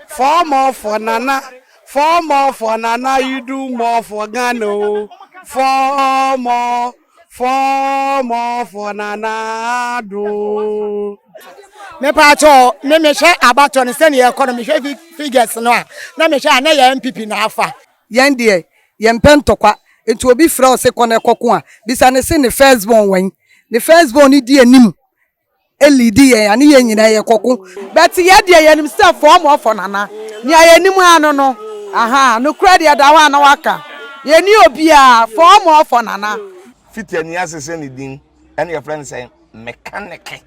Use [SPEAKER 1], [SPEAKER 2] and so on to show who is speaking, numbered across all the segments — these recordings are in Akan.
[SPEAKER 1] Four more for Nana Four more for Nana You do more for Ghana o oh. Four more Four more for Nana do
[SPEAKER 2] mepatɔ me mehwɛ abatɔ no sɛdeɛ ɛkɔ no mehwɛ figures no a na mehwɛ a na yɛ npp na afa yɛn deɛ
[SPEAKER 3] yɛmpɛ ntɔkwa nti obi frɛ wo se kɔ na ɛkɔko a bisa ne se ne first born wɛn ne first born no di anim leadi yɛn a ne yɛn nyinaa yɛ kɔko but yɛ deɛ yɛnim sɛ fɔɔ mɔ fɔ nana nea yɛnim a no no ahaa no korɛ deɛ da hɔ a na waka yɛni obiaa fɔɔ mɔ fɔ nana. Fiti ani ase
[SPEAKER 4] sɛ ne din ɛna yɛfrɛ no sɛ mekaneke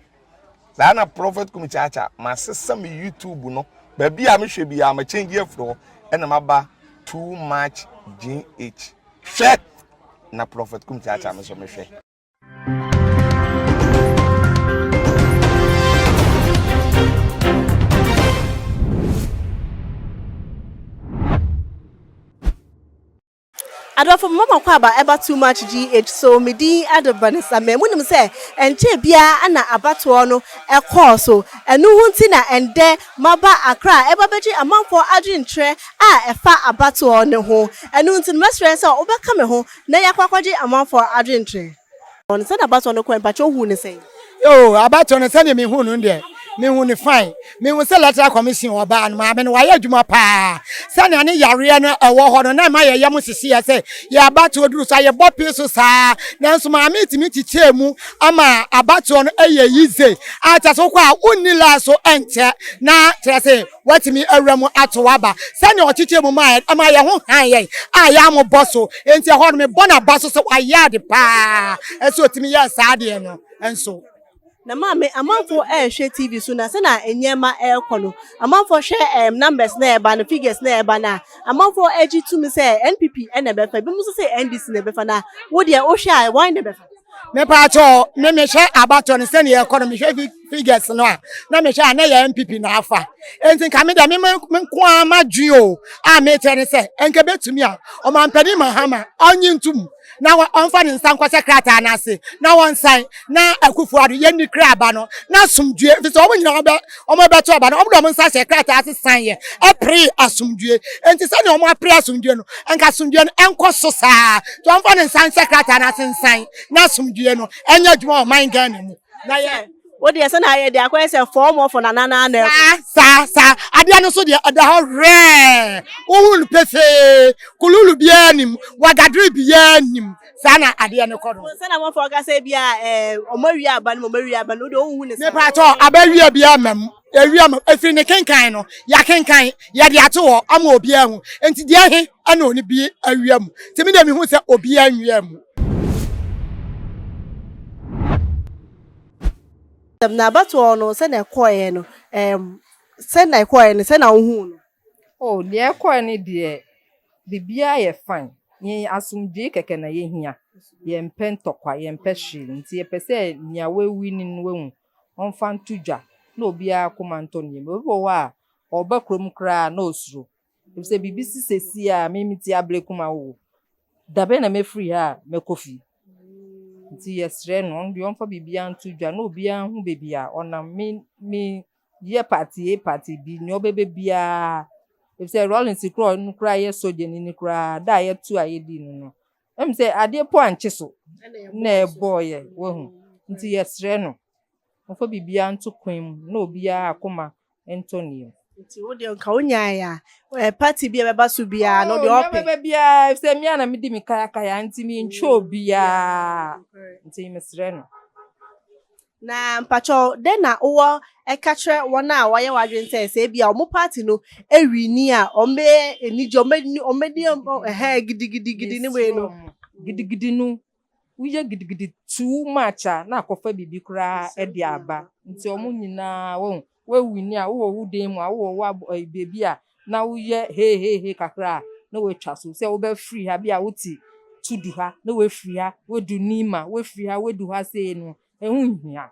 [SPEAKER 4] saa na prophet kum kyaakya masesa me youtube no baabi a mehwɛ biara ma change afiri hɔ ɛna maba too much gh hwɛ na prophet kum kyaakya me so mehwɛ
[SPEAKER 5] adɔfo mma mɔkɔ aba ɛba too much gh so me din ɛde vanessa mɛ mu nim sɛ ɛnkyɛ biara ɛna abatoɔ no ɛkɔɔ so ɛno ho nti na ɛndɛ maba akra ɛba bɛgye amanfoɔ adwenkyerɛ a ɛfa abatoɔ no ho ɛno nti no mɛsrɛ sɛ wobɛka me ho Na yɛakɔ akɔgye amanfoɔ adwenkyerɛ. Wɔn sɛdeɛ abatoɔ no kɔɛ, mpakyɛ wohuu no sɛn? Oh, abatoɔ
[SPEAKER 2] no sɛdeɛ mehuu no no deɛ, mehuu no fine. Mehuu sɛ Electoral Commission wɔ ɔbaa no maame no, wayɛ adwuma pa ara. Sɛdeɛ ne yareɛ no ɛwɔ hɔ no, na ɛma yɛn yam hyehyeɛ sɛ yɛn abatoɔ duru so a, yɛbɔ pee so saa ara. Nanso maame yi tumi kyekyɛɛ mu ma abatoɔ no yɛ yize a kyerɛ sɛ wokɔ a wonni line so nkyɛ na kyerɛ sɛ, Watumi awura mu atow aba. Sɛnea ɔkyekyɛɛ mu mae no, ɛma yɛn ho han yɛn a yɛammɔ bɔ so. Enti ɛhɔ no, mebɔ n'aba so sɛ wayɛ ade paa. Ɛsɛ sɛ otumi yɛɛ saa adeɛ no nso. Na maame,
[SPEAKER 5] amanfoɔ rehwɛ TV so, na sɛnea nneɛma rekɔ no, amanfoɔ hwɛ ɛɛm numbers no a ɛreba no, figures no a ɛreba no a, amanfoɔ gye tom sɛ NPP na ɛbɛfa. Ebinom nso se NDC na ɛbɛfa. Na wo deɛ, wohwɛ a, wɔn na ɛbɛfa? Mepaakyɛw,
[SPEAKER 2] me mehwɛ abatoɔ no sɛnea ɛrekɔ no, mehwɛ fi. figures no a na mehwɛ a na yɛ npp na afa nti nka me deɛ me me nko ara m'adwene o a mekyerɛ ne sɛ nka bɛtumi a ɔmampanin mahama ɔnye ntom na ɔmfa ne nsa nkɔhyɛ krataa no ase na wɔnsan na akufo ado yɛnni kra aba no na asomdue ɛfiri sɛ wɔn nyinaa wɔbɛ wɔn bɛto aba no wɔn de wɔn nsa hyɛ krataa ase san yɛ ɛpere asomdue nti sɛdeɛ wɔn apere asomdue no nka asomdue no ɛnkɔ so saa nti wɔmfa ne nsa nhyɛ krataa no ase nsan na asomdue no ɛnyɛ adwuma wɔ ɔman Ghana mu. na yɛ wo deɛ sɛ na ayɛ deɛ
[SPEAKER 5] akɔyɛ sɛ fɔɔmɔfɔ na nana ana saa saa saa
[SPEAKER 2] adeɛ no so deɛ ɛda hɔ hwɛɛ wohu no pefee kululu biara nim wagadere biara nim saa na adeɛ no kɔ no sɛ na mɔfɔ ɔka sɛ
[SPEAKER 5] bia ɛɛ ɔmo awie aba no ɔmo awie aba no deɛ wohu ne saa mepa atɔ aba awie
[SPEAKER 2] biara ma mu awie ma efiri ne kenkan no yɛakenkan yɛde ato hɔ ama obiara hu nti deɛ he ɛna ɔne bi awia mu nti me deɛ mehu sɛ obi anwia mu.
[SPEAKER 5] na abatoɔ no sɛ na ɛkɔɔeɛ no ɛɛm sɛ na ɛkɔɔeɛ no sɛ na wohuu no. oh deɛ
[SPEAKER 6] ɛkɔɔeɛ no deɛ biribiara yɛ fine yɛn asomdwoe kɛkɛ na yɛhia yɛmpɛ ntɔkwa yɛmpɛ hwee nti yɛpɛ sɛ nea wawu no no wahu ɔmfa nto dwa na obiara koma ntɔ no yam obi wɔ hɔ a ɔba kurom koraa na ɔsuro Efisɛ biribi si seesei a me me ti abere koma wo. Da bɛn na mɛfiri ha a mɛkɔ fie? Nti yɛsrɛ no, ɔno deɛ ɔmfa biribiara nto dwa na obiara ho baabi a ɔnam. Me me yɛ party A party B nea ɔbɛbɛ biara. Efisɛ Rawlings korɔ ɔno koraa yɛ sogyani no koraa da a yɛto a yɛdii no no. Ɛm sɛ adeɛ po ankye so na ɛbɔɔyɛ wahu. Nti yɛsrɛ no. Momfa biribiara nto kwan mu na obiara akoma ntɔ ne yam. Nti wo deɛ nka
[SPEAKER 5] wo nyae a eh, party bi a ɛbɛba so biara no deɛ ɔpɛ. Oh, nyɛbɛbɛ biara efisɛ me
[SPEAKER 6] a na medi me kayakaya nti me ntwa obiara nti mesrɛ no. Na
[SPEAKER 5] mpakyɛw dɛn na wowɔ ɛka kyerɛ wɔn a wɔayɛ w'adwene sɛ sɛ ebi a wɔn party no ewi ni a wɔn bɛ anigye wɔn bɛ wɔn bɛ di ɛhɛn gidigidigidi ne wei no. Gidigidi no
[SPEAKER 6] woyɛ gidigidi too much a na akɔfa biribi koraa de aba. Nti wɔn nyinaa wahu. Wawini a wowɔ wo dan mu a wowɔ wo ab ɛyi baabi a na woyɛ heeheehe kakra a na watwa so sɛ wobɛfiri ha bi a wote Tudu ha na wafiri ha wadu Nima wafiri ha wadu ha sei no ɛho nhia.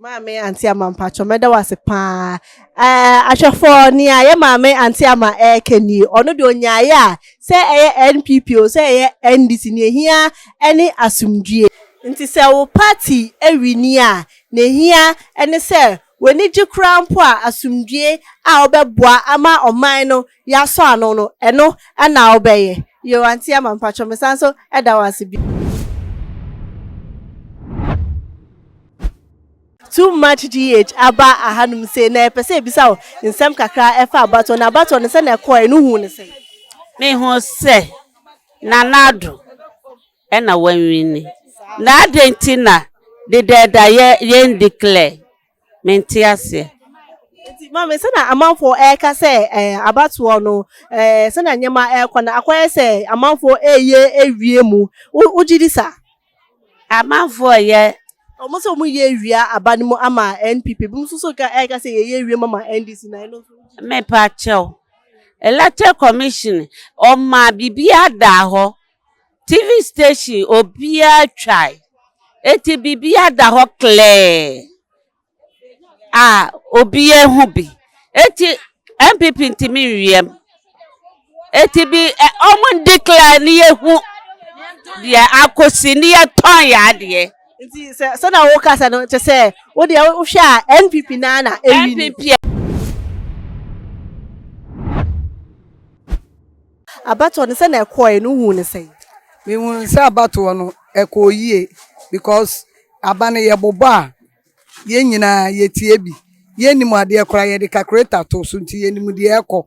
[SPEAKER 5] Maame Auntie Ama mpakyɛ mɛda wo ase paa. Ɛɛ ahwɛfoɔ nea yɛ maame Auntie Ama ɛɛka ni ɔno deɛ onyaaeɛ a sɛ ɛyɛ NPP o sɛ ɛyɛ NDC nea ehia ɛne asomdwie. Nti sɛ wo party ɛwini a nea ehia ɛne sɛ w'ani gye koraa mpo a asomdwie a ɔbɛboa ama ɔman no Yasɔ ano no ɛno ɛna wobɛ yɛ. Yoo auntie ama mpakyɛw me san so ɛda wo ase bio. Too much GH aba ahanom sei na yɛpɛ sɛ yɛbisa wo nsɛm kakra ɛfa abatoɔ no abatoɔ no sɛnea ɛkɔɔɛ no huu no sɛn? Me hu
[SPEAKER 7] sɛ Nana Addo ɛna w'anwini na adɛn nti na Deda ɛda yɛn declare? Mente aseɛ. Nti
[SPEAKER 5] maame sɛna amanfoɔ ɛɛka sɛ ɛɛ abatoɔ no ɛɛ sɛna nneɛma ɛɛkɔ no akɔyɛ sɛ amanfoɔ ɛɛyɛ ɛwie mu wo wogyedi saa? Amanfoɔ
[SPEAKER 7] yɛ. Ɔmo sɛ ɔmo yɛ
[SPEAKER 5] ɛwia aba no mu ama NPP ebi mo nso so ka ɛɛka sɛ yɛyɛ ɛwie mu ama NDC na ɛno nso wogyedi saa? Mepa kyɛw
[SPEAKER 7] electoral commission ɔmaa biribiaa daa hɔ TV station obiara twae. Enti biribiara da hɔ klɛɛ a obiara hu bi. Enti NPP ntumi nwiam. Enti bi ɛ wɔndeclare ne yɛhu deɛ akɔsi ne yɛtɔn yɛn adeɛ. Nti sɛ sɛnea
[SPEAKER 5] wokasa no kyerɛ sɛ wo deɛ wohwɛ a NPP no ara na ɛwini. NPP Abatoɔ no sɛnea ɛkɔɔɛ no wohuu no sɛn? Mehunuu sɛ
[SPEAKER 3] abatoɔ no ɛkɔɔ yie because aba no yɛbobɔ a yɛn nyinaa yɛtie bi. Yɛnnim adeɛ koraa yɛde calculator to so nti yɛnim deɛ ɛrekɔ.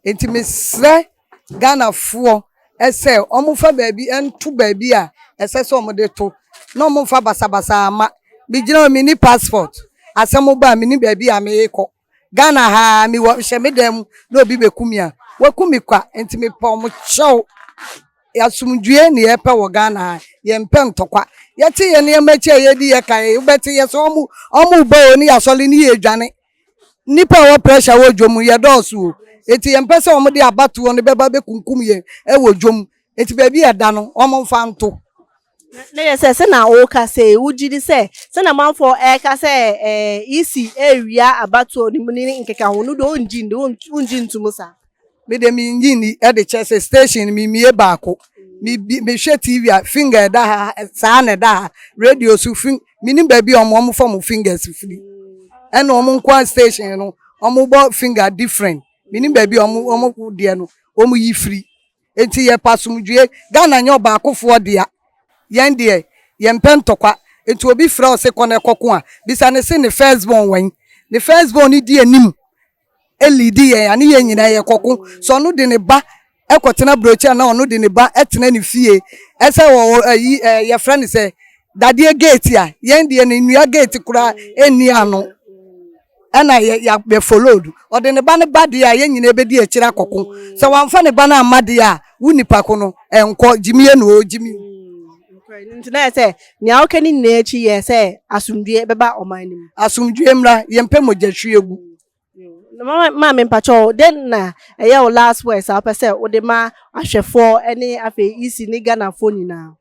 [SPEAKER 3] Nti mesrɛ Ghanafoɔ sɛ wɔmfa baabi nto baabi a ɛsɛ sɛ wɔde to na wɔmfa basabasa mma. Megyina hɔ menni passport asɛm ba a mennim baabi a merekɔ. Ghana ha ara mewɔ hyɛ me dan mu na obi bɛku me a, waku me kwa. Nti mepɛ wɔn kyɛw. Asomdwoeɛ na yɛpɛ wɔ Ghana ha, yɛmpɛ ntɔkwa. Yɛte yɛn nneɛma akyi a yɛdi yɛ ka yɛ, wobɛte yɛ sɛ wɔn wɔn reba o ne yɛasɔre ne yɛredwane. Nnipa a ɛwɔ pressure wɔ dwom mu yɛdɔɔso o. Nti yɛmpɛ sɛ wɔde abatoɔ no bɛba bɛkunkum yɛn wɔ dwom. Nti baabi a ɛda no wɔmfa nto. Na yɛ
[SPEAKER 5] sɛ sɛnea woka sɛ yi, wogye di sɛ sɛnea amanfoɔ ɛreka sɛ ɛɛ isi ɛrewia abatoɔ no mu ne ne nkekaho no deɛ ɔngye nni, wongye ntom saa? Me deɛ mengye
[SPEAKER 3] nni de kyerɛ sɛ station no memie baako. Mebi mehwɛ TV a finger ɛda ha saa na ɛda ha, radio nso fing menim baabi a wɔn wɔfa wɔn fingers firi. Ɛna wɔn nko ara station no wɔbɔ finger different. Menim baabi a wɔn wɔn deɛ no wɔyi firi. Enti yɛpɛ asomdwoe. Ghana nyɛ ɔbaakofoɔ dea. Yɛn deɛ, yɛmpɛ ntɔkwa. Enti obi frɛ wo se kɔ na kɔko a, bisa no se ne first born wɛn? Ne first born no di anim leadi yɛn a, ne yɛn nyinaa yɛkɔko. Sɛ ɔno de ne ba kɔtena brochure anaa ɔno de ne ba tena ne fie sɛ ɔwɔ ayi ɛɛ yɛfrɛ no sɛ dadeɛ gate a, yɛn deɛ no nnua gate koraa nni ano. ɛna yɛ yɛ yɛ followed ɔde ne ba no ba deɛ a yɛn nyinaa bɛdi akyire akɔko sɛ wamfa ne ba no amma deɛ a wo nipa ko no ɛnkɔ gyimie no o gyimi mm, nti
[SPEAKER 5] na yɛ sɛ nea wokɛ ne nyinaa akyi yɛ sɛ asomdwie bɛba ɔman no mu asomdwie mmra
[SPEAKER 3] yɛmpɛ mogya hwie gu mm,
[SPEAKER 5] ma me mpakyɛ o dɛn na ɛyɛ wo last words a wopɛ sɛ wode ma ahwɛfoɔ ne afei isi ne ghanafoɔ nyinaa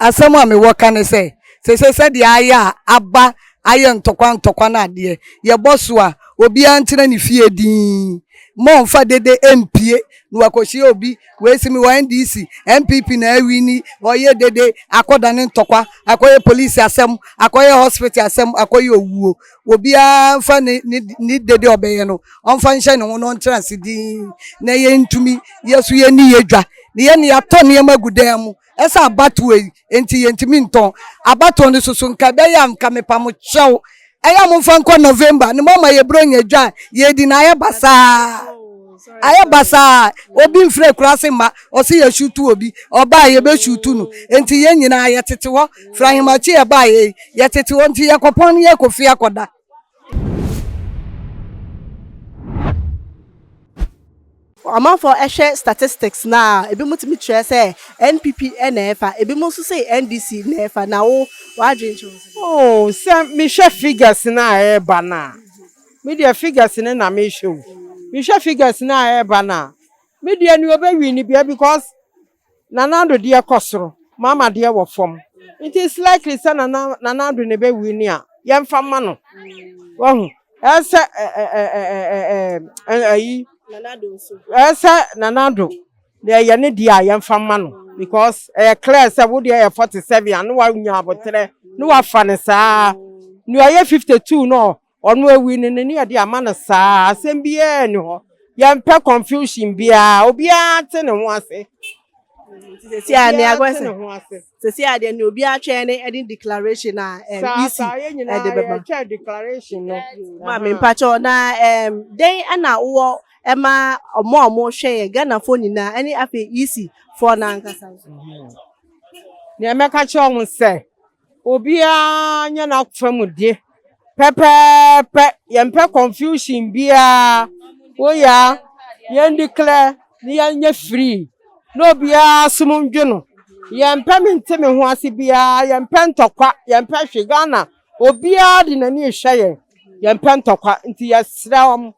[SPEAKER 5] asɛm
[SPEAKER 3] a mewɔ ka ne sɛ sese sɛdeɛ ayɛ a aba ayɛ ntɔkwa ntɔkwa no adeɛ yɛbɔ so a obiara ntena ne fie dinn mɔmfa dede mpie na wakɔhyia obi wei si me wɔ ndc npp na awi ni ɔyɛ dede akɔdane ntɔkwa akɔyɛ polisi asɛm akɔyɛ hospital asɛm akɔyɛ owuo obiara mfa ne ne ne dede ɔbɛyɛ no ɔmfa nhyɛ ne ho na ɔntra ase dinn na yɛntumi yɛ so yɛ ni yɛ dwa ne yɛ ne yɛatɔ nneɛma gu dan mu ɛsɛ abatoɔ yi nti yɛntumi ntɔn abatoɔ no soso nka ɛbɛyɛ a nka mepa mo kyɛw ɛyɛ a momfa nkɔ november ne moama yɛbrɛ nya dwa a yɛdi na ayɛ basaa Ayɛ basaa obi mfiri akuraase mma ɔse yɛ shuutu obi ɔbaa yɛbɛ shuutu no nti yɛn nyinaa yɛ tete hɔ firi ahemakye yɛ baayɛ yi yɛ tete hɔ nti yɛ kɔpɔn no yɛ kɔ fie akɔ da.
[SPEAKER 5] Amanfoɔ hwɛ statistics no a ebi mo tumi kyerɛ sɛ NPP na ɛfa ebi mo nso se NDC na ɛfa na wo w'adwene kyerɛ wo sɛn? Oh sɛ
[SPEAKER 8] me hwɛ figures no a ɛɛba no a Me deɛ figures no na mehwɛ o. Mehwɛ figures no a ɛɛba no a, me deɛ nea ɔbɛ win biaa because Nana Addo deɛ kɔ soro, Mahama deɛ wɔ fam. Nti it's likely sɛ Nana Nana Addo na ɛbɛ win a yɛmfa mma no. Wahu? Ɛɛsɛ ɛɛɛ Ɔno awi no n'ani a ɔde ama no saa ara, asɛm biara nni hɔ. Yɛmpɛ confusion biara, obiara ate ne ho ase.
[SPEAKER 5] Sisi a nea ɛkɔ sɛ sisi a deɛ nea obi atwɛn ne ɛde declaration a ɛm isi ɛde bɛba. Yɛtwɛn declaration
[SPEAKER 8] no. Maame mpakyɛw
[SPEAKER 5] na ɛm dɛn ɛna wowɔ ɛma ɔmo a ɔmo hwɛ yɛ Ghanafoɔ nyinaa ɛne afei isi foɔ no ankasa.
[SPEAKER 8] Nea mɛka kyerɛ ɔmo sɛ Obiara nyɛ n'afa mu de pɛpɛɛpɛ. Yɛmpɛ confusion biara. Woya a, yɛn declare na yɛnyɛ free na obiara som ndwo no. Yɛmpɛ me nte me ho ase biara, yɛmpɛ ntɔkwa, yɛmpɛ hwee. Ghana, obiara de n'ani rehwɛ yɛn. Yɛmpɛ ntɔkwa nti yɛsrɛ wɔn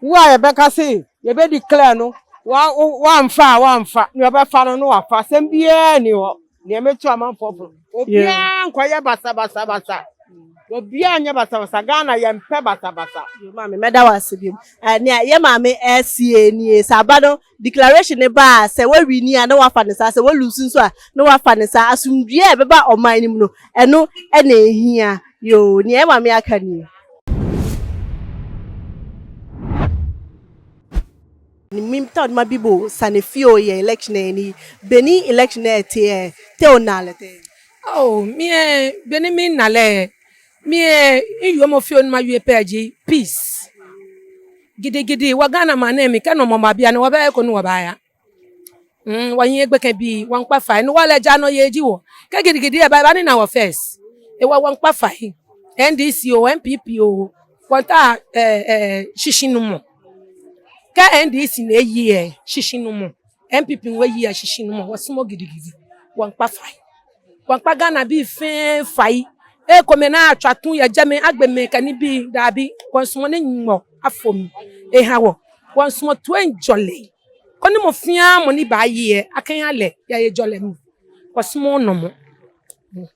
[SPEAKER 8] Wo a yɛbɛka se yɛbɛ declare no wamfa a wamfa, nea ɔbɛfa no no wafa, asɛm biara ni hɔ nea meto amanfoɔ fo no, obiara nkɔyɛ basabasabasa, obiara nyɛ basabasa, Ghana yɛmpɛ basabasa. Yo maame mɛda
[SPEAKER 5] wo ase biom. Nea yɛ maame ɛɛseɛ nie sɛ aba no. declaration no ba a sɛ wa wini a na wafa ne saa sɛ wa lose nso a na wafa ne saa asomdwie a ɛbɛba ɔman no mu no ɛno ɛna ehia yoo nea ɛma me aka nie. Nim ta odma bibo sane fio ye election e ni beni election e te e te o nale te. Oh,
[SPEAKER 9] mi e beni mi nale e Mie iyo mo fio numa yue pɛ gye peace. Gidigidi wa Ghana ma ne mi kɛ nɔ mɔmɔ abia ne wɔbɛ ko ne wɔbɛ aya. Mm wɔn yɛ gbɛkɛ bi wɔn kpa fa ne wɔlɛ gya nɔ yɛ gyi wɔ. Kɛ gidigidi yɛ ba ba ne na wɔ fɛs. E wɔ wɔn kpa fa yi. NDC o NPP o wɔn ta ɛ ɛ shishi no mɔ. Kɛ NDC ne yi ɛ shishi no mɔ. NPP wɔ yi ɛ shishi no mɔ wɔ sumɔ gidigidi wɔn kpa fa yi. Wampa Ghana bi mfe mfa yi. Ee kɔ me na atwa to yɛ gya me agbe me ka ni bi daabi wɔnsomɔ ne nyɔ afom eha wɔ wɔnsomɔ to enjɔ le kɔ ne mo fia mo ni ba yeɛ akɛn alɛ ya ye jɔ lɛ mo wɔsomɔ nɔ mo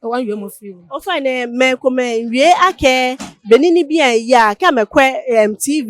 [SPEAKER 9] ɛwɔ nwie mo fi wo. Ofa ne mɛ
[SPEAKER 5] kɔ mɛ nwie akɛ bɛ ni ni bi an ya kɛ mɛ kɔ ɛm TV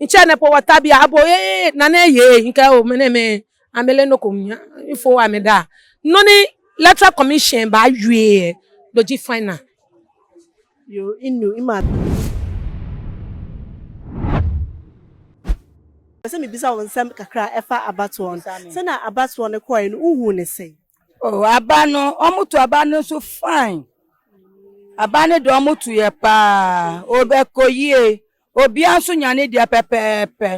[SPEAKER 9] Nkyɛ ne po wɔ tabea abo ee na ne yee nka o mene me amele no kom nya info a me da no ne electoral commission ba wie doji final.
[SPEAKER 5] Yo inu ima. Mepɛ sɛ mebisa wo nsɛm kakra a ɛfa abatoɔ no. Sɛnea abatoɔ no kɔɔɛ no wohuu no sɛn? Oh aba
[SPEAKER 10] no ɔmo to aba no so fine aba no deɛ ɔmo toyɛ paa ɔbɛkɔ yie. Obia nso nya ne deɛ pɛpɛɛpɛ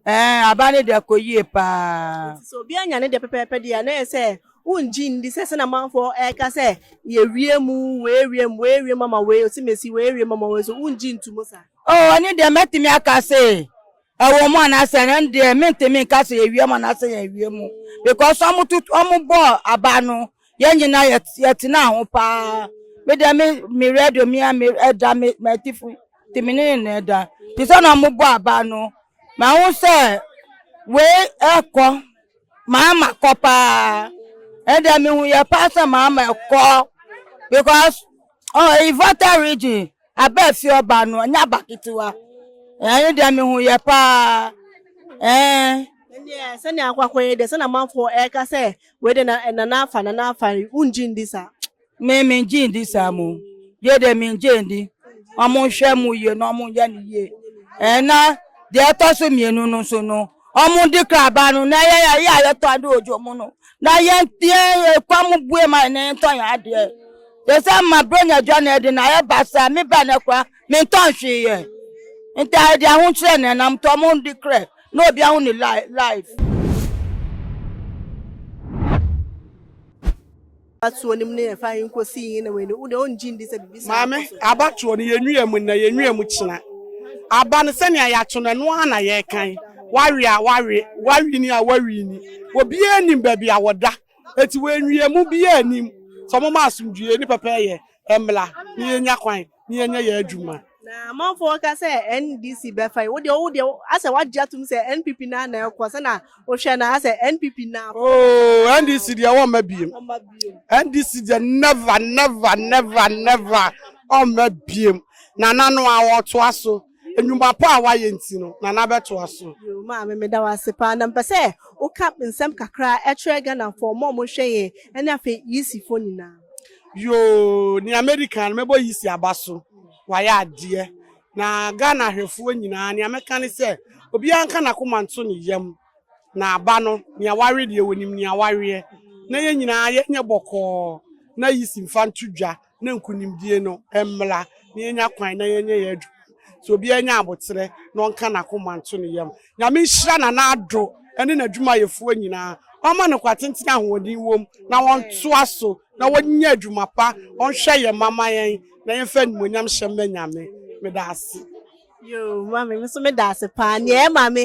[SPEAKER 10] ɛɛ aba ne deɛ kɔ yie paa. Nti sɛ obia nya ne deɛ
[SPEAKER 5] pɛpɛɛpɛ deɛ a na ɛyɛ sɛ wo ngye ndi sɛ sɛdeɛ amanfoɔ ɛɛka sɛ yɛwie mu wɔɛwie mu wɔɛwie mu ama wei ɔse mesi wɔɛwie mu ama wei so wo ngye ntu mu saa? Oh ɛno deɛ mɛtumi
[SPEAKER 10] aka se ɛwɔ mu anaasɛ ɛno deɛ mentumi nka sɛ yɛwie mu anaasɛ yɛnwie mu because ɔmo to ɔmo bɔɔ aba no Yɛn nyinaa yɛ yɛtenaa ho paa. Me deɛ me me radio me a me ɛda me m'atifo te me ne ne ɛda. Te sɛ na wɔbɔ aba no. Mahu sɛ wei ɛkɔ maama kɔ paa. Ɛdeɛ mehu yɛ paa sɛ maama ɛkɔ because oh Ivota region. Aba a fie ɔbaa no ɛnyɛ aba ketewa. Ɛno deɛ mehuiɛ paa. Ɛnneɛ
[SPEAKER 5] sɛnea akwakɔ yi deɛ sɛnea amanfoɔ ɛreka sɛ wei deɛ na nana afa nana afa yi wongye ndi saa? Me mengye
[SPEAKER 10] ndi saa mo. Yɛ deɛ mengye ndi. Wɔn nhwɛ mu yie na wɔn nyɛ no yie. Ɛna deɛ ɛtɔ so mmienu no nso no. Ɔmo de kraaba no na yɛn a yɛ a yɛtɔ ade wɔ dwom no na yɛn yɛn kwan mu bue ma yɛn na yɛntɔ yɛn adeɛ. Te sɛ ma Bronya dwa na ɛde na yɛba saa me ba na kora mentɔ nhwee yɛ. Nti a yɛde ahokyerɛ na ɛnam to ɔmo de krɛ na obi ahu ne life.
[SPEAKER 5] Abatoɔ no mu no yɛ fine nkosi yi na wani wo deɛ ɔngye ndi sɛ biribi saa Maame, akɔso. abatoɔ
[SPEAKER 1] no yɛnwia mu nnɛ, yɛnwia mu kyena. Aba no sɛnea yɛato no ɛno ara na yɛrekan. Wawe a wawe, wawini a wawini. Obiara nnim baabi a wɔda. Enti wɔanwia mu, obiara nnim. Sɛ wɔma asomdwoeɛ ne pɛpɛɛyɛ Ɛmmra na yɛnya kwan na yɛnyɛ yɛn adwuma. Na
[SPEAKER 5] amanfoɔ reka sɛ NDC bɛfa yi, wo deɛ wo deɛ asɛ wagye atom sɛ NPP no ara na ɛkɔ, sɛ na wohwɛ no asɛ NPP no ara. Oo NDC
[SPEAKER 1] deɛ wɔmma biem. NDC deɛ never never never never ɔmma biem. Nana no a ɔtoa so. nnwuma pa a wayɛ nti no, Nana bɛtoa so. Yoo maame meda wo ase
[SPEAKER 5] paa na mepɛ sɛ wo ka nsɛm kakra kyerɛ Ghanafoɔ mo a ɔmo hwɛ yɛn ɛne afei Yeasi foɔ nyinaa. Yoo
[SPEAKER 1] nea mɛdi kan no mɛbɔ Yeasi aba so wayɛ adeɛ na Ghana ahwɛfoɔ nyinaa nea mɛka ne sɛ obiara nka nakoma nto ne yam na aba no nea wawe deɛ wɔnim nea waweɛ na yɛn nyinaa yɛnyɛ bɔkɔɔ na Yeasi nfa nto dwa na nkunimdie no mmra na yɛnya kwan na yɛnyɛ yɛn adwuma so obiara nya aboterɛ na ɔnka n'akoma nto ne yam. Nyame nhyira Nana Addo ne n'adwumayɛfoɔ nyinaa, ɔmma no nkwa tenten a ahoɔden wom na wɔntoa so na wɔnyɛ adwuma pa, wɔnhwɛ yɛn mma ma yɛn na yɛmfa animuonyam hyɛ mma Nyame. Meda ase. Yoo mami
[SPEAKER 5] me nso meda ase paa nea ɛma me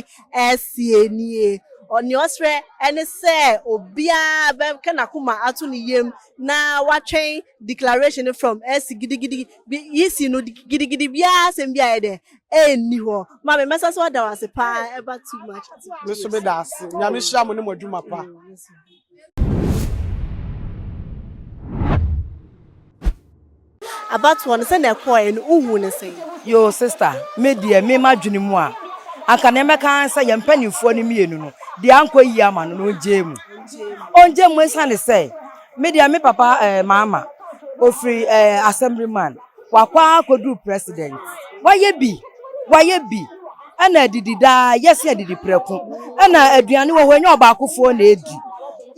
[SPEAKER 5] ɛsie nie ɔne ɔsrɛ ɛne sɛ obiara bɛka n'akoma ato ne yam na watwɛn declaration no from ɛsi gidigidi bi yisi no gidigidi biara asɛm bi ayɛ dɛ ɛnni hɔ mami mɛsa so ada wo ase paa ɛba too much me nso meda ase
[SPEAKER 1] nyame hyira mo ne mo adwuma pa.
[SPEAKER 5] Abatoɔ no sɛnea ɛkɔɔɛ no wo huu no sɛn? Yoo sister
[SPEAKER 10] me deɛ me madwene mu a anka neɛ mɛka ara ne sɛ yɛn mpaninfoɔ no mmienu no deɛ ankɔ yie ama no no ɔngyae mu ɔngyae mu ɛsiane sɛ me deɛ me papa eh, maama ɔfiri eh, assemblyman wakɔ ara kɔduru president wayɛ bi wayɛ bi Ɛna adidi daa, yɛse adidi prɛko. Ɛna aduane wɔ hɔ, ɛnyɛ ɔbaakofoɔ na adi.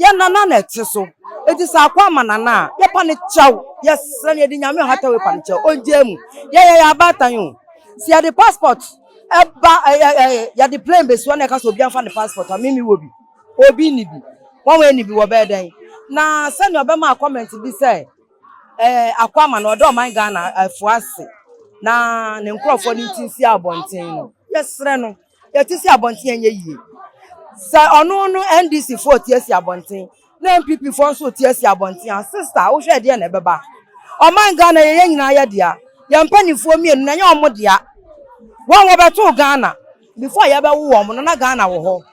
[SPEAKER 10] Yɛn Nana na ɛte so. Enti sɛ ako ama Nana a, yɛpa no kyɛw. Yɛsrɛ no, yɛde Nyame ɔhata wei pa no kyɛw. Ɔngyaa mu. Yɛyɛ yɛn abaatan o. Sɛ yɛde passport ba, yɛde plane bɛsi hɔ na yɛka sɛ obiara mfa ne passport a, me mewɔ bi. Obi nni bi. Wɔn a ɛnni bi wɔbɛyɛ dɛn? Na sɛnea ɔbɛmaa comment bi sɛ. Ɛɛ, Akwama no ɔda ɔman Ghana ɛfo ase na ne nkorɔfoɔ no ti si abɔnten no. Yɛsrɛ no, yɛte si abɔnten ɛnyɛ yie. Sɛ ɔno no NDC foɔ te asi abɔnten na NPP foɔ nso te asi abɔnten a, sista wohwɛ ɛdeɛn na ɛbɛba? Ɔman Ghana yɛ yɛn nyinaa yɛ dea. Yɛn mpaninfoɔ mmienu no ɛnyɛ wɔn dea. Wɔn wɔbɛtoo Ghana. before yɛbɛwo wɔn no na Ghana wɔ hɔ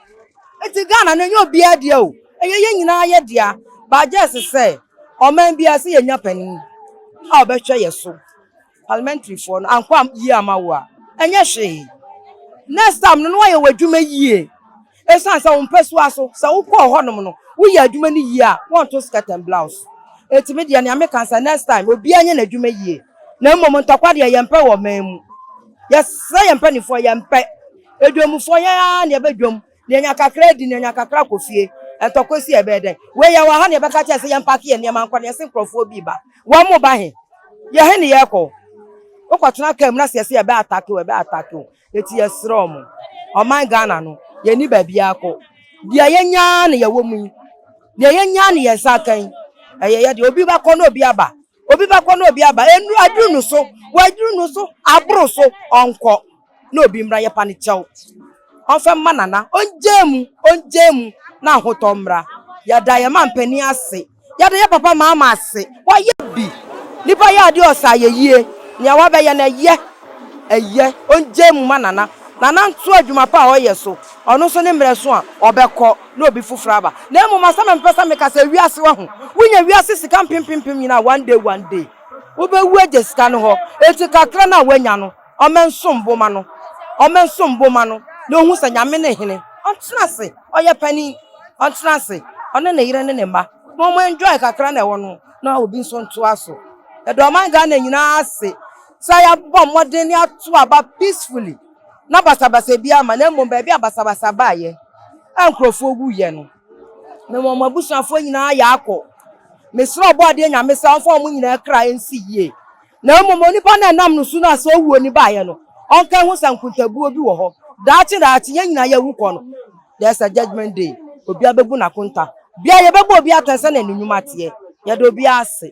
[SPEAKER 10] nti Ghana no ɛnyɛ obiara dea o ɛyɛ yɛn nyinaa yɛ dea but just sɛ ɔman biara sɛ yɛnya panin a ɔbɛhwɛ yɛ so parliamentary foɔ no ankɔ am- yie ama wo a ɛnyɛ hwee next time no na wayɛ w'adwuma yie ɛsiane sɛ wo mpɛsoa so sɛ wokɔɔ hɔnom no woyɛ adwuma no yie a wɔnto skirt and blouse ɛtumi deɛ nea meka sɛ next time obiara nyɛ n'adwuma yie Na mmom ntɔkwa deɛ yɛmpɛ wɔ ɔman mu. Yɛsrɛ yɛn mpanimfoɔ, yɛmpɛ. Adwamfoɔ, yɛn ara na yɛbɛdwam. Deɛ ɔnya kakra adi, deɛ ɔnya kakra kɔ fie. Ntɔkwa asi a, ɛbɛyɛ dɛn? Wei yɛwɔ ha na yɛbɛka akyerɛ no sɛ yɛmpake yɛn nneɛma nkɔ na yɛse nkurɔfoɔ bi reba. Wɔreba he? Yɛhe na yɛrekɔ? Wokɔtena kaa mu na sɛ yɛse yɛbɛ atake wo a, ɛbɛ atake wo. Enti yɛsrɛ mo, ɔman Ghana no, yɛnni baabiara kɔ. Deɛ yɛanya ara na yɛwɔ mu yi. Deɛ yɛanya ara na yɛn nsa aka yi. Ɛyɛ yɛ deɛ. Obi bɛkɔ na obi aba. Obi bɛkɔ na obi aba, nnuru aduru no so, waduru no so, aboro so, ɔnkɔ na obi mmra, yɛpa no kyɛw, ɔmfa mma Nana, ɔngyaa mu, ɔngyaa mu na ahotɔ mmra. Yɛda yɛn mampanin ase, yɛda yɛn papa Mahama ase, wayɛ bi, nipa yɛ adeɛ ɔsɛ ayɛyie, nea wabɛyɛ no ɛyɛ, ɛyɛ, ɔngyaa mu mma Nana, Nana ntoa adwuma pa a ɔyɛ so, ɔno nso ne mmerɛ so a, ɔbɛkɔ. na obi foforo aba. Na mmom asɛm a mepɛ sɛ meka sɛ wiase wahu. Wonya wiase sika mpempempem nyinaa one day one day. Wobɛwu agya sika no hɔ. Enti kakra no a woanya no, ɔmɛnsom bo ma no. Ɔmɛnsom bo ma no na ohu sɛ Nyame ne hene. Ɔntena ase. Ɔyɛ panin. Ɔntena ase. Ɔne ne yere ne ne mma. Ma ɔmo enjoy kakra na ɛwɔ no na obi nso ntoa so. Yɛda ɔman Ghana nyinaa ase sɛ yɛabɔ mmɔden ne ato aba peacefully. na basabasa bi ama na mmom baabi a basabasa baeɛ a nkurɔfoɔ wuiɛ no, me wɔn abusuafoɔ nyinaa yɛ akɔ. Mesrɛ Ɔbɔadeɛ Nyame sɛ ɔmfa wɔn nyinaa kra nsi yie, na mmom onipa no a ɛnam ne so no a sɛ owuo no baeɛ no, ɔnkae ho sɛ nkontabuo bi wɔ hɔ. Daakye daakye yɛn nyinaa yɛawu kɔ no, there is a judgement day, obiara bɛbu n'akonta. Biara yɛbɛbɔ obiara atɛn sɛdeɛ ne nnwuma teɛ. Yɛda obiara ase.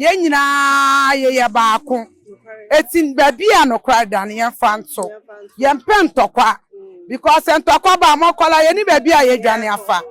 [SPEAKER 2] Yɛn nyinaa yɛyɛ baako. Eti baabi a nokware da no, yɛmfa nto. Yɛmpɛ ntɔkwa. Because sɛ ntɔkwa ba a, mo akwadaa, yɛnni baabi a yɛadwane afa.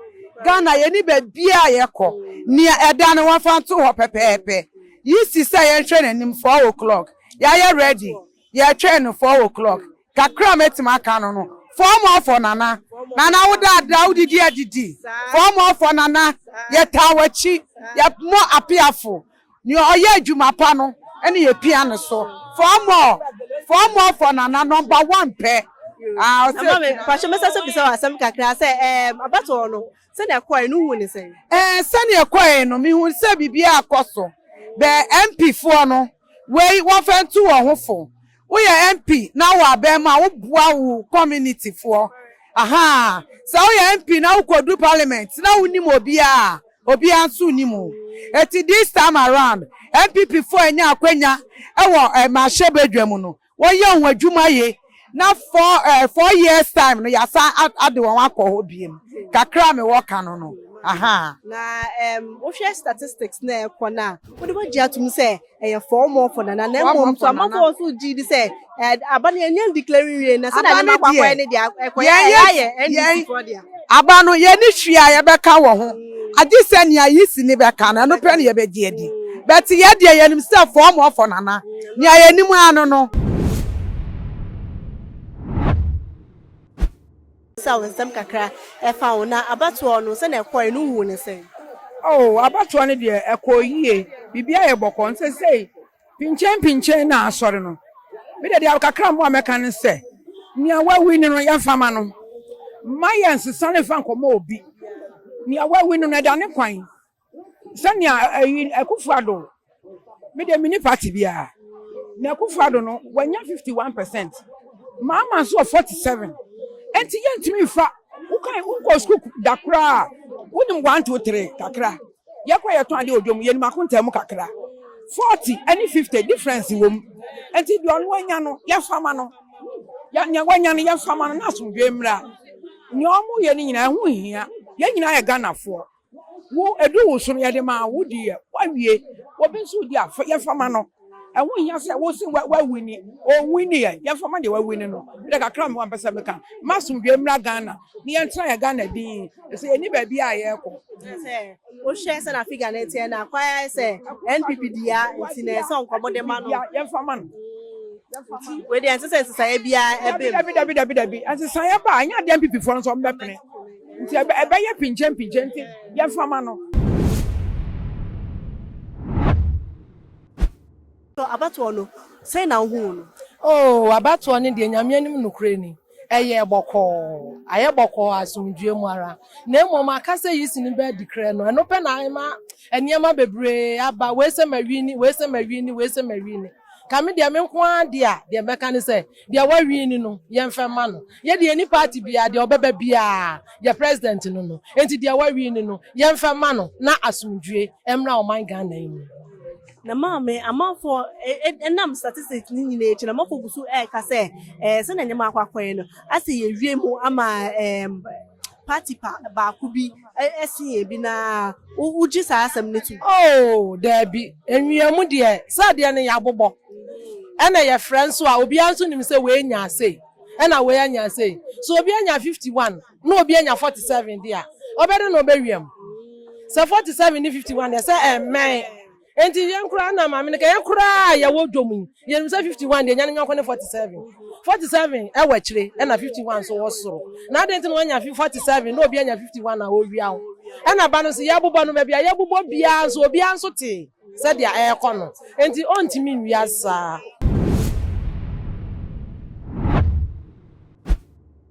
[SPEAKER 2] Ghana, yɛnni baabiara a yɛkɔ. Nea ɛda no, wɔmfa nto hɔ pɛpɛɛpɛ. Yisi sɛ yɛnhwɛ n'anim, four o'clock. Yɛayɛ ready. Yɛtwɛn no four o clock kakra a mɛtumi aka no no four more four nana nana wo da adra wo didi adidi four more four nana yɛtaa wakyi yɛmɔ apiafo neɛ ɔyɛ adwuma pa no ɛne yɛpia no so four more four more four nana number one pɛ ah ɔsɛ ɛma me
[SPEAKER 5] pahyɛ mɛsa sɛ bisa wɔ asɛm kakra sɛ ɛɛm abatoɔ no sɛdeɛ ɛkɔɛ no hu ne sɛn ɛɛ sɛdeɛ ɛkɔɛ
[SPEAKER 2] no mehu sɛ biribiara akɔ so bɛ MP foɔ no Wei wɔmfa ntu wɔn ho fo. Woyɛ MP na wowɔ aban mu a woboa wo community foɔ ahaa. Sɛ woyɛ MP na wokɔduru parliament na wonim obiara a, obiara nso nnim wo. Enti this time around, NPP foɔ anya akwanya wɔ mmarahyɛbadwa mu no, Wɔyɛ wɔn adwuma ye na four eh four years time no yasan ade wɔn akɔ hɔ biem kakra a me wɔ ka no no ahaa. Na ɛɛm
[SPEAKER 5] wo hwɛ statistics na ɛkɔ no a wode wagye atum sɛ ɛyɛ four more for nana na mmom nso amafo wɔ so gye di sɛ ɛɛ aba no yɛnyɛ declare nwie na sɛ da ne bakɔ akɔyɛ ne deɛ ɛkɔyɛ ɛyɛ ayɛ NDC foɔ deɛ. Aba no yɛni
[SPEAKER 2] hwee a yɛbɛka wɔ ho. agye sɛ nea Yisini bɛka no, ɛno pɛ na yɛbɛgye adi. But yɛn deɛ, yɛnim sɛ fɔm ɔfɔ nana. Nea yɛnim ara no no.
[SPEAKER 5] Bisa wo nsɛm kakra ɛfa wo. Na abatoɔ no, sɛnea ɛkɔɔe no, wohuu no sɛn? Oh, abatoɔ
[SPEAKER 8] no deɛ, ɛkɔɔ yie. Biribiara yɛ bɔkɔɔ. Nso seesei. Pinkyɛn pinkyɛn na asɔre no. Me de deɛ kakra mmoa mɛka ne sɛ, nea wawu no no yɛmfa mma no. Mma yɛnsesa no mfa nkɔma obi. Nea wawu no no ɛda ne kwan. Sɛnea ɛyi Akufo Addo, me deɛ menni party biara. Na Akufo Addo no wanya 51 percent. Mahama nso wɔ 47. Enti yɛntumi mfa, wokan wonkɔɔ sukuu da koraa a, wonim one two three kakra. Yɛkɔ yɛtɔn adeɛ wɔ dwom, yɛnim akontaa mu kakra. Forty ɛne fifty difference wɔ mu. Nti deɛ ɔno anya no yɛmfa ma no. Deɛ wanya no yɛmfa ma no na asomdwoeɛ mmra. Nea wɔyɛ no nyinaa ɛho nhia. Yɛn nyinaa yɛ Ghanafoɔ. Wo ɛduru wo so no yɛde ma wo, wodiiɛ, woawie. Obi nso redi a yɛmfa ma no. Ɛho nhia sɛ wose wawini, ɔnwini ɛ, yɛmfa mma deɛ wawini no. Medɛ kakra mewɔ a mepɛ sɛ meka, mma asomdwoeɛ mmra Ghana na yɛntena yɛn Ghana dinn, ɛfiri sɛ yɛnni baabi a yɛrekɔ. Kyerɛ sɛ, wohwɛ
[SPEAKER 5] sɛdeɛ figure no teɛ no a, kwan ara sɛ NPP di ya nti na ɛsɛ sɛ nka wɔde ma no. Yɛmfa mma no. Nti wei deɛ ɛnsɛ sɛ nsesaeɛ biara ba mu. Dabi, dabi, dabi, dabi, dabi.
[SPEAKER 8] Nsesaeɛ ba a, ɛnyɛ adeɛ a NPP foɔ no nso wɔbɛpene. Nti ɛbɛyɛ pinkyenpinkyen, nti yɛmfa mma no.
[SPEAKER 5] Abatoɔ no, sɛn na wohuu no? Oo, abatoɔ
[SPEAKER 9] no deɛ, Nyame anim nokorɛ ni, ɛyɛɛ bɔkɔɔ. Ayɛ bɔkɔɔ asomdwoeɛ mu ara. Na mmom aka sɛ yeast no bɛ adi krɛ no, ɛno pɛ na ama nneɛma bebree aba, wei sɛ ma wini, wei sɛ ma wini, wei sɛ ma wini. Nka me deɛ, me nko ara deɛ a, deɛ mɛka ne sɛ, deɛ wɔawini no, yɛmfa mma no. Yɛ deɛ yɛni party biara deɛ ɔbɛba biara yɛ president no no enti deɛ wawii no no yɛnfa mma no na asomdwie mmra ɔman Ghana yi mu. Na maame,
[SPEAKER 5] amanfoɔ ɛnam statistics no nyinaa akyi no, amanfoɔ gu so ɛreka sɛ sɛdeɛ nneɛma akɔ akɔ yi no, asɛ yɛawie mu ama ɛɛ. party pa baako bi sen yɛn bi no ara, wogye saa asɛm no tom? Oh, dabi.
[SPEAKER 9] Mmeamu deɛ, sɛ adeɛ no yɛabobɔ, ɛna yɛfrɛ nso a, obiara nso nim sɛ wei nyaa sei, ɛna wei anya sei. Sɛ obi anya fifty one, na obi anya forty seven deɛ a, ɔbɛdɛn na ɔbɛwiam? Sɛ forty seven ne fifty one deɛ, sɛ ɛmmɛn. Enti yɛn koraa na maame no ka yɛn koraa a yɛwɔ dwom yi yɛnim sɛ 51 deɛ nya ne nyɔnko ne 47 47 ɛwɔ akyire ɛna 51 nso wɔ soro na adɛn nti na wanya fi 47 na obi anya 51 a ɔwia wo ɛna ba no nso yɛabobɔ no baabi a yɛabobɔ biara nso obiara nso te sɛdeɛ ɛrekɔ no enti ɔntumi nwia saa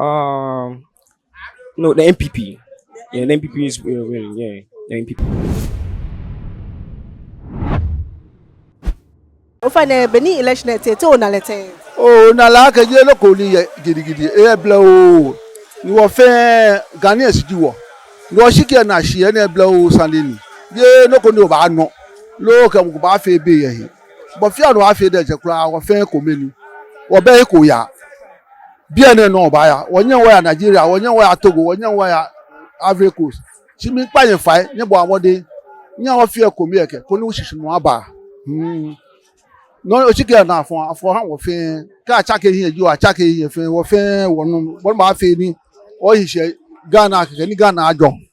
[SPEAKER 5] Um,
[SPEAKER 11] no, the NPP. Yeah, the NPP is uh, winning. Yeah, the NPP.
[SPEAKER 5] Ofane beni election ete te ona lete. Oh, na la ke
[SPEAKER 12] ye lo ko ni ye gidi gidi. E bla o. Ni wo fe gani esidi wo. Ni o shike na shi e ne bla o sandini. Ye lo ko ni o ba no. Lo ke mo ba fe be ye. Bɔfia no afei dɛ dze koraa wɔfɛn kɔ menu wɔbɛyɛ kɔ ya bia ne no ɔba ya wɔnyɛ wɔ ya Nigeria wɔnyɛ wɔ ya Togo wɔnyɛ wɔ ya Ivory Coast kyi mi kpa yɛ fae nyɛ bɔ abɔden nyɛ wɔfia kɔ mi yɛ kɛ kɔ ne wɔhyehye no aba hmm no ɔkyi kɛ na afɔ afɔ ha wɔfɛn kɛ akyɛ kɛ hiɛ gyi wɔ akyɛ kɛ hiɛ fɛn wɔfɛn wɔnom wɔnom afei ni wɔhyehyɛ Ghana kɛkɛ ni Ghana adwɔ.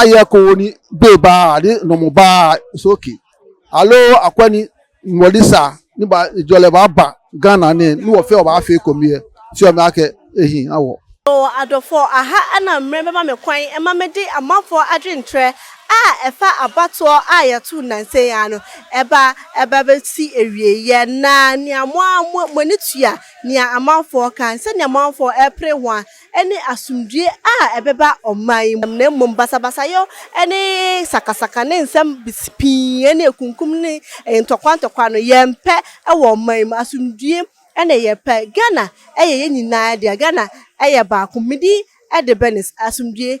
[SPEAKER 12] ayɛ ko ni bee ba ni nɔmɔ ba soki alo akɔ ni wɔli sa ni ba jɔlɛ ba ba gana ni ni wɔ fɛ wɔ ba fɛ ko miɛ si wɔ mi akɛ ehin awɔ. Mewɔ adɔfoɔ
[SPEAKER 5] aha a na mmerɛ bɛma me kwan ma mede amanfoɔ adwenkyerɛ a ɛfa abatoɔ a yɛtoo nnansa yi ara no ɛba ɛba bɛsi awieeɛ na nea mo ara moani tua nea amanfoɔ ka sɛdeɛ amanfoɔ repere ho a ne asomdwoe a ɛbɛba ɔman yi mu, na mmom basabasayɔ ne sakasaka ne nsɛm pii ne akunkum ne ntɔkwa ntɔkwa no, yɛmpɛ wɔ ɔman yi mu. Asomdwoe na yɛpɛ. Ghana yɛ yɛn nyinaa dea. Ghana yɛ baako. Me din de Bernice. Asomdwoe.